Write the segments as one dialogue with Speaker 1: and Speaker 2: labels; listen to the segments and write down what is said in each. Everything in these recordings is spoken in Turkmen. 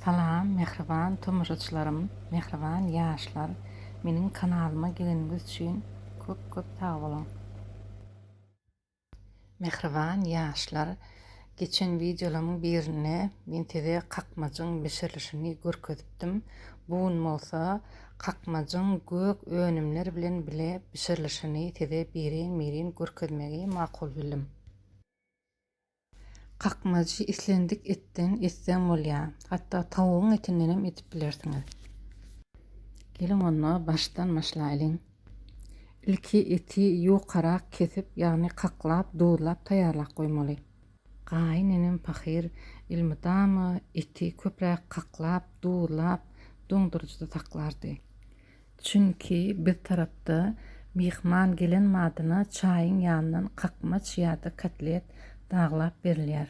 Speaker 1: Salam mähriban tomaşaçylarym mähriban ýaşlar meniň kanalyma geleniňiz üçin köp köp sag boluň. Mähriban ýaşlar geçen wideolarymyň birinde men size kakmajyň bişirilişini görkezipdim bu gün bolsa kakmajyň gök önümler bilen bile bişirilişini size birin birin görkezmegi makul bildim. Kakmajy islendik etden etseň bolýar. Hatda tawugyň etindenem edip bilersiňiz. Geliň onda başdan başlaýlyň. Ilki eti ýukarak kesip, ýagny kaklap, duzlap taýýarlap goýmaly. Gaýyn enem pahyr elmydama eti köpräk kaklap, duzlap, doňduryjyda saklardy. Çünki biz tarapda myhman gelen badyna çaýyň ýanyndan kakmaç ýa-da kotlet daglap berilýär.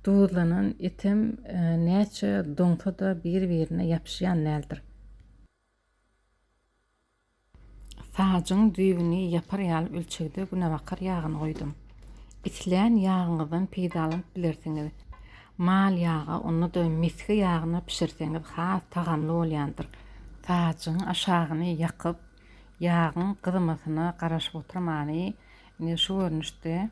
Speaker 1: Duzlanan etem näçe doňsa-da bir-birine ýapyşýan däldir. Sajyň düýbüni ýapar ýaly ölçegde günebakar ýagyny goýdum. Islän ýagyňyzdan peýdalanyp bilersiňiz. Mal ýaga, onda-da misgi ýagyna bişirseňiz has tagamly bolýandyr. Sajygyň aşagyny ýakyp, ýagyň gyzmasyna garaşyp oturmany, indi şu görnüşde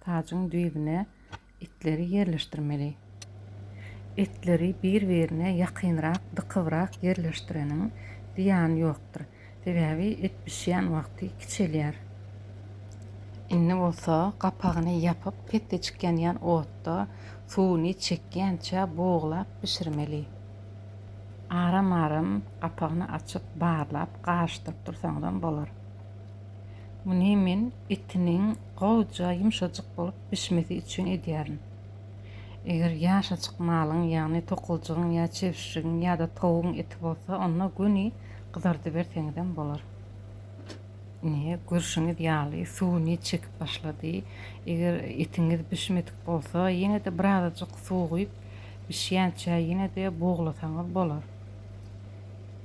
Speaker 1: sajygyň düýbüne etleri ýerleşdirmeli. Etleri bir-birine ýakynrak, dykybrak ýerleşdireniň zyýany ýokdur. Sebäbi et bişýän wagty kiçelýär. Indi bolsa gapagyny ýapyp, petdejik ýanýan otda suwuny çekýänçä buglap bişirmeli. Aram-aram gapagyny açyp barlap garyşdyryp dursaňyzam bolar. Muny men etiniň gowja ýumşajyk bolup bişmesi üçin edýärin. Eger ýaşajyk malyň, ýagny tokaljygyň ýa çebşirigiň ýa-da towugyň eti bolsa onda göni Gyzardyberseňizem bolar. Ine, görşüňiz ýaly, suwuny çekip başlady. Eger etiňiz bişmedik bolsa, ýene-de birazajyk suw guýup, bişýänçä ýene-de buglasaňyz bolar.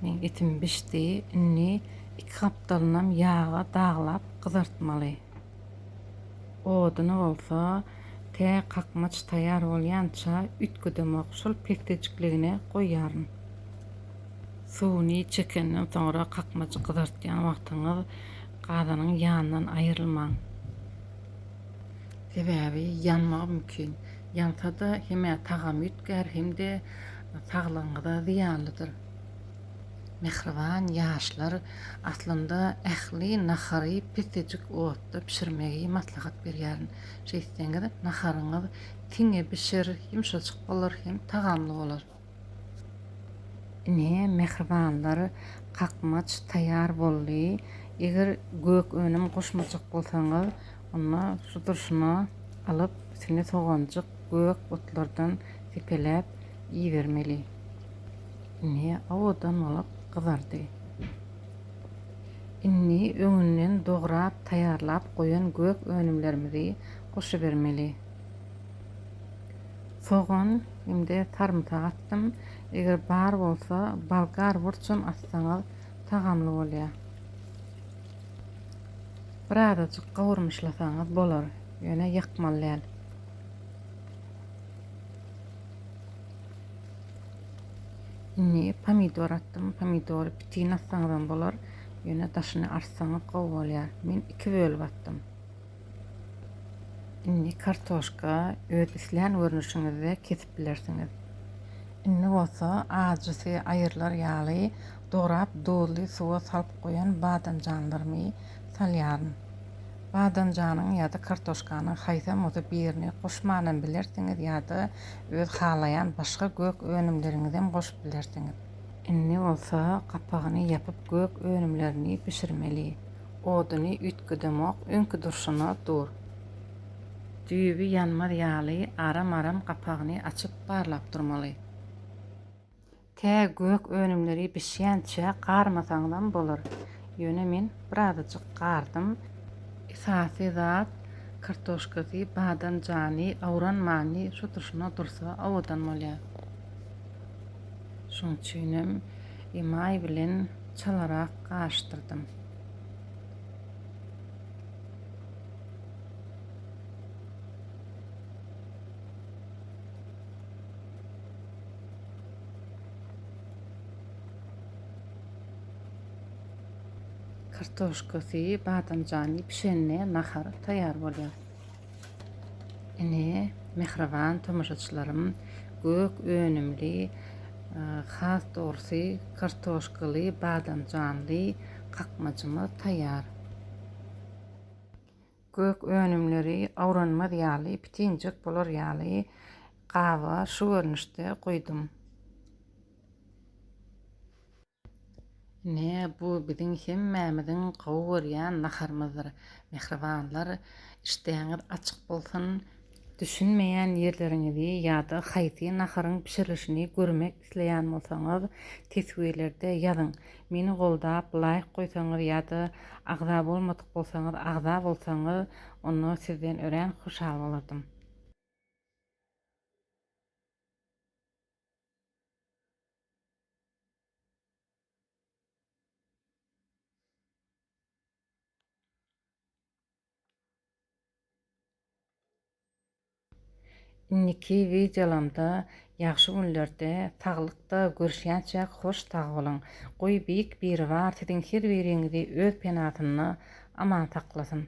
Speaker 1: Meň etim bişdi. Indi iki gapdalynam ýaga daglap gyzartmaly. Oduny bolsa, tä kakmaç taýýar bolýança üýtgedemok, şol pegtejikligine goýýaryn. Suwuny çekenden soňra kakmajy gyzartýan wagtyňyz gazanyň ýanyndan aýrylmaň. Sebäbi ýanmagy mümkin. Ýansa-da hem tagamy üýtgär hem-de saglygyňyza zyýanlydyr. Mähriban ýaşlar aslynda ähli nahary pesejik otda bişirmegi maslahat berýärin. Şeýtseňiz naharyňyz tiňe bişer, ýumşajyk bolar hem tagamly bolar. Ine, mähribanlar, kakmaç taýýar boldy. Eger gök önüm goşmajak bolsaňyz, onda sudurşyna alyp, üstüne soganjyk, gök otlardan sepeläp iýermeli. Indi owadan bolup gyzardy. Indi öňünden dograp taýýarlap goýan gök önümlerimizi goşubermeli. Sogan hem-de sarymsak atdym. Eger bar bolsa, bolgar burçam atsaňyz tagamly bolýar. Birazajyk gawurmyşlasaňyz bolar, ýöne ýakmaly däl. Indi pomidor atdym. Pomidory pitini atsaňyzam bolar. Ýöne daşyny artsaňyz gowy bolýar. Men iki bölüp atdym. Indi kartoşka öz islän görnüşiňizde kesip bilersiňiz. Indi bolsa ajysy aýrylar ýaly dograp duzly suwa salyp goýan badamjanlarymy salýaryn. Badamjanyň ýa-da kartoşkanyň haýsam bolsa birini goşmanam bilersiňiz ýa-da Öz halaýan başga gök önümleriňizem goşup bilersiňiz. Indi bolsa gapagyny ýapyp gök önümlerini bişirmeli. Oduny üýtgedemok, öňki durşuna dur. Düýbi ýanmaz ýaly aram-aram gapagyny açyp barlap durmaly. Tä gök önümleri bişýänçä garmasaňyzam bolar. Ýöne men birazajyk gardym. Esasy zat, kartoşkasy, badamjany, awranmany şu turşuna dursa owadan bolýar. Şoň üçinem emaý bilen çalarak garyşdyrdym. Kartoşkasy, badamjany pişende nahar taýýar bolýar. Ine, mähriban tomaşaçylarym, gök önümli, has dogrusy, kartoşkaly, badamjanly kakmajymyz taýýar. Gök önümleri awranmaz ýaly, pitinjek bolar ýaly gaba şu görnüşde guýdum. Ine, bu biziň hemmämiziň gowy görýän naharymyzdyr. Mähribanlar, işdäňiz açyk bolsun! Düşünmeýän ýerleriňizi ýa-da haýsy naharyň bişirilişini görmek isleýän bolsaňyz, teswirlerde ýazyň. Meni goldap, laýk goýsaňyz ýa-da agza bolmadyk bolsaňyz, agza bolsaňyz, onda sizden örän hoşal bolardym. Indiki wideolamda ýagşy günlerde saglykda görüşýänçäk hoş sag boluň. Goý Beýik Biribar siziň her biriňizi öz penasynda aman saklasyn.